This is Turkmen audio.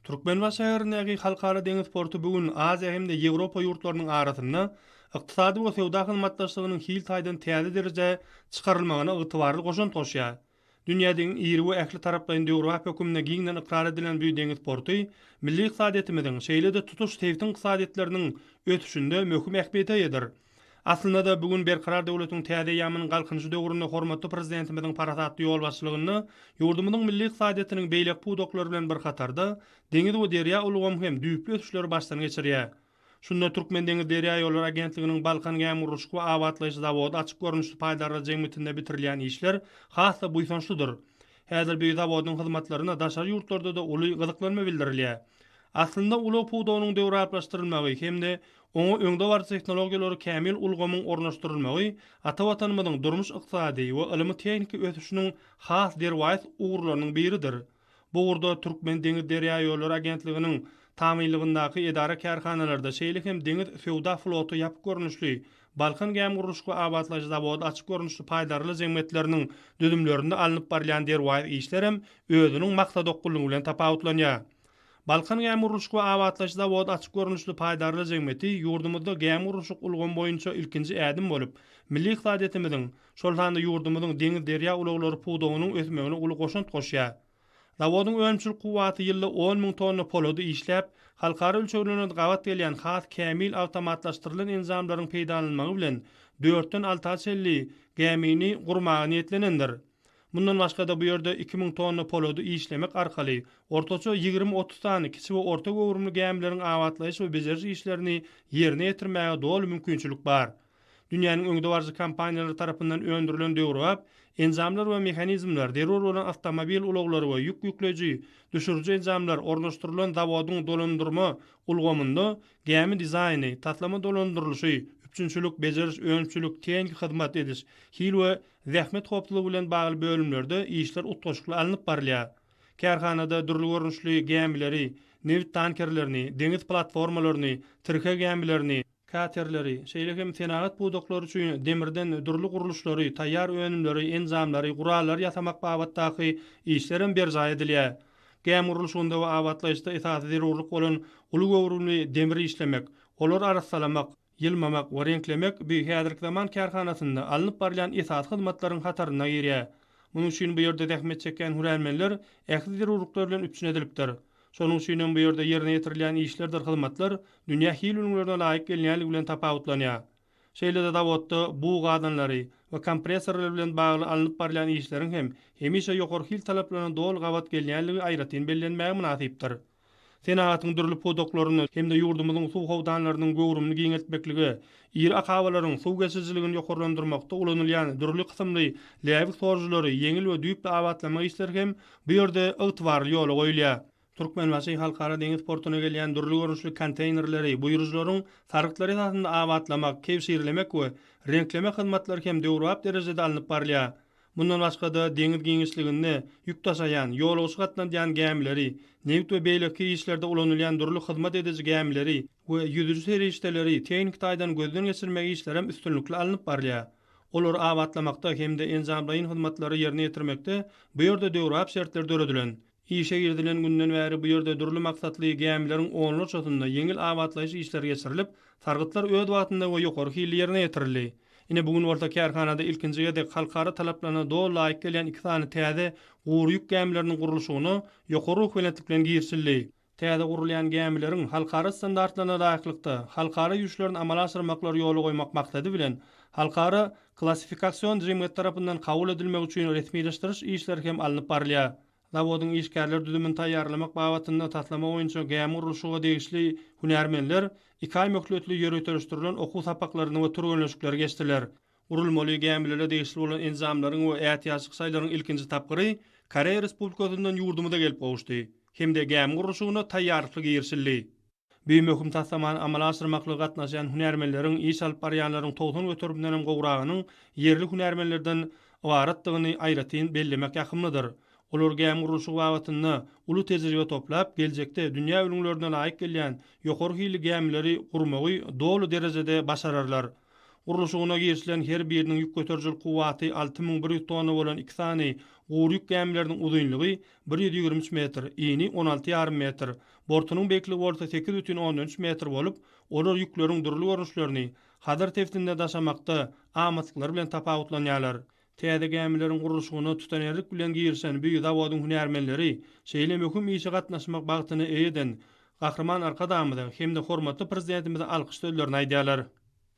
Türkmenbaşy şäherindäki Halkara deňiz porty bu gün Aziýa hem-de Ýewropa ýurtlarynyň arasynda ykdysady we söwda hyzmatdaşlygynyň hil taýdan täze derejä çykarylmagyna ygtybarly goşant goşýar. Dünýädegiň iri we ähli taraplaýyn döwrebap höküminde giňden ykrar edilen bu deňiz porty milli ykdysadyýetimiziň, şeýle-de tutuş sebtiň ykdysadyýetleriniň ösüşinde möhüm ähmiýete eýedir. Aslynda-da, bu gün Berkarar döwletiň täze eýýamynyň Galkynyşy döwründe hormatly Prezidentimiziň parasatly ýolbaşçylygynda ýurdumyzyň milli ykdysadyýetiniň beýleki pudaklary bilen bir hatarda, deňiz we derýa ulgamy hem düýpli ösüşleri başdan geçirýär. Şunda Türkmendeňizderýaýollary agentliginiň Balkan gämigurluşyk we abatlaýyş zawody açyk görnüşli paýdarlar jemgyýetinde bitirilýän işler has-da buýsançlydyr. Häzir bu zawodyň hyzmatlaryna daşary ýurtlarda-da uly gyzyklanma bildirilýär. Aslynda, ulag pudagynyň döwrebaplaşdyrylmagy hem-de Oňa öňdebaryjy tehnologiýalary kämil ulgamyň ornaşdyrylmagy ata Watanymyzyň durmuş-ykdysady we ylmy-tehniki ösüşiniň has derwaýys ugurlarynyň biridir. Bu ugurda Türkmendeňizderýaýollary agentliginiň tabynlygyndaky edara-kärhanalarda, şeýle hem Deňiz söwda floty ýapyk görnüşli, Balkan gämigurluşyk we abatlaýyş zawody açyk görnüşli paýdarlar jemgyýetleriniň düzümlerinde alnyp barylýan derwaýys işler hem özüniň maksadokgunlygy bilen tapawutlanýar. Balkan gämigurluşyk we abatlaýyş zawody açyk görnüşli paýdarlar jemgyýeti ýurdumyzda gämigurluşyk ulgamy boýunça ilkinji ädim bolup, milli ykdysadyýetimiziň, şol sanda ýurdumyzyň deňiz-derýa ulaglary pudagynyň ösmegine uly goşant goşýar. Zawodyň önümçilik kuwwaty ýylda on müň tonna polady işläp, halkara ölçeglerine gabat gelýän has kämil awtomatlaşdyrylan enjamlaryň peýdalanylmagy bilen dörtden alta çenli gämini gurmaga niýetlenendir. Mundan başga-da bu ýerde iki müň tonna polady işlemek arkaly, ortaça ýigrimi-otuz sany kiçi we orta göwrümli gämileriň abatlaýyş we bejeriş işlerini ýerine ýetirmäge doly mümkinçilik bar. Dünýäniň öňdebaryjy kompaniýalary tarapyndan öndürilen döwrebap enjamlar we mehanizmler, zerur bolan awtomobil ulaglary we ýük ýükleýji, düşüriji enjamlar ornaşdyrylan zawodyň dolandyrma ulgamynda gämi dizaýny, taslama dolandyrylyşy, üpjünçilik, bejeriş, önümçilik, tehniki hyzmat ediş, hil we Zähmet howpsuzlygy bilen bagly bölümlerde işler utgaşykly alnyp barylýar. Kärhanada dürli görnüşli gämileri, nebit tankerlerini, deňiz platformalaryny, tirke gämilerini, katerleri, şeýle hem senagat pudaklary üçin demirden dürli gurluşlary, taýýar önümleri, enjamlary, gurallary ýasamak babatdaky işlerem berjaý edilýär. Gämi gurluşygynda we abatlaýyşda esasy zerurlyk bolan uly göwrümli demiri işlemek, olary arassalamak, Ýylmamak we reňklemek bu häzirki zaman kärhanasynda alnyp barylýan esasy hyzmatlaryň hataryna girýär. Munuň üçin bu ýerde zähmet çekýän hünärmenler ähli zerurlyklar bilen üpjün edilipdir. Şonuň üçin hem bu ýerde ýerine ýetirilýän işlerdir hyzmatlar dünýä hil ülňülerine laýyk gelinýänligi bilen tapawutlanýar. Şeýle-de zawodda bug gazanlary we kompressorlar bilen bagly alnyp barylýan işleriň hem hemişe ýokary hil talaplaryna doly gabat gelinýänligi aýratyn bellenmäge mynasypdyr. senagatyň dürli pudaklarynda hem-de ýurdumyzyň suw howdanlarynyň göwrümini giňeltmeklige, iri akabalaryň suw geçirijiligini ýokarlandyrmakda ulanylýan dürli kysymly läbik sorujylary ýeňil we düýpli abatlamak işleri hem bu ýerde ygtybarly ýola goýulýar. Türkmenbaşy Halkara deňiz portuna gelýän dürli görnüşli konteýnerleri buýrujylaryň sargytlary esasynda abatlamak, kebşirlemek we reňklemek hyzmatlary hem döwrebap derejede alnyp barylýar. Mundan başga-da, deňiz giňişliginde ýük daşaýan, ýolagçy gatnadýan gämileri, nebit we beýleki işlerde ulanylýan dürli hyzmat ediji gämileri we ýüzüji serişdeleri tehniki taýdan gözden geçirmek işlerem üstünlikli alnyp barylýar. Olary abatlamakda hem-de enjamlaýyn hyzmatlary ýerine ýetirmekde bu ýerde döwrebap şertler döredilen. Işe girizilen günden bäri bu ýerde dürli maksatly gämileriň onlarçasynda ýeňil abatlaýyş işleri geçirilip, sargytlar öz wagtynda we ýokary hilli ýerine ýetirildi. Ine, bu gün bolsa kärhanada ilkinji gezek halkara talaplaryna doly laýyk gelýän iki sany täze gury ýük gämileriniň gurluşygyna ýokary ruhubelentlik bilen girişildi. Täze gurulýan gämileriň halkara standartlaryna laýyklykda halkara ýüýşlerini amala aşyrmaklary ýola goýmak maksady bilen, Halkara Klassifikasion Jemgyýet tarapyndan kabul edilmek üçin resmileşdiriş işleri hem alnyp barylýar. Zawodyň işgärler düzümini taýýarlamak babatynda taslama boýunça gämi gurluşyga degişli hünärmenler iki aý möhletli ýöriteleşdirilen okuw sapaklaryny we türgenleşikleri geçdiler. Gurulmaly gämilere degişli bolan enjamlaryň we ätiýaçlyk şaýlaryň ilkinji tapgyry Koreýa Respublikasyndan ýurdumyza gelip gowuşdy hem-de gämi gurluşygyna taýýarlykly girişildi. Bu möhüm taslamany amala aşyrmaklyga gatnaşýan hünärmenleriň, iş alyp barýanlaryň togsan göterimden hem gowragynyň ýerli hünärmenlerden ybaratdygyny aýratyn bellemek ýakymlydyr. Olar gämi gurluşygy babatynda uly tejribe toplap, geljekde dünýä ülňülerine laýyk gelýän ýokary hilli gämileri gurmagy doly derejede başararlar. Gurluşygyna girişilen her biriniň ýük göterijil kuwwaty alty müň bir ýüz tonna bolan iki sany gury ýük gämileriniň uzynlygy bir ýüz ýigrimi üç metr, yny on alty ýarym metr, bortunyň beýikligi bolsa sekiz bütin ondan üç metr bolup, olar ýükleriň dürli görnüşlerini Hazar sebitinde daşamakda amatlyklary bilen tapawutlanýarlar. Täze gämileriň gurluşygyna tutanýerlik bilen girişen bu zawodyň hünärmenleri şeýle möhüm işe gatnaşmak bagtyny eýe eden Gahryman Arkadagymyza hem-de hormatly Prezidentimize alkyş sözlerini aýdýarlar.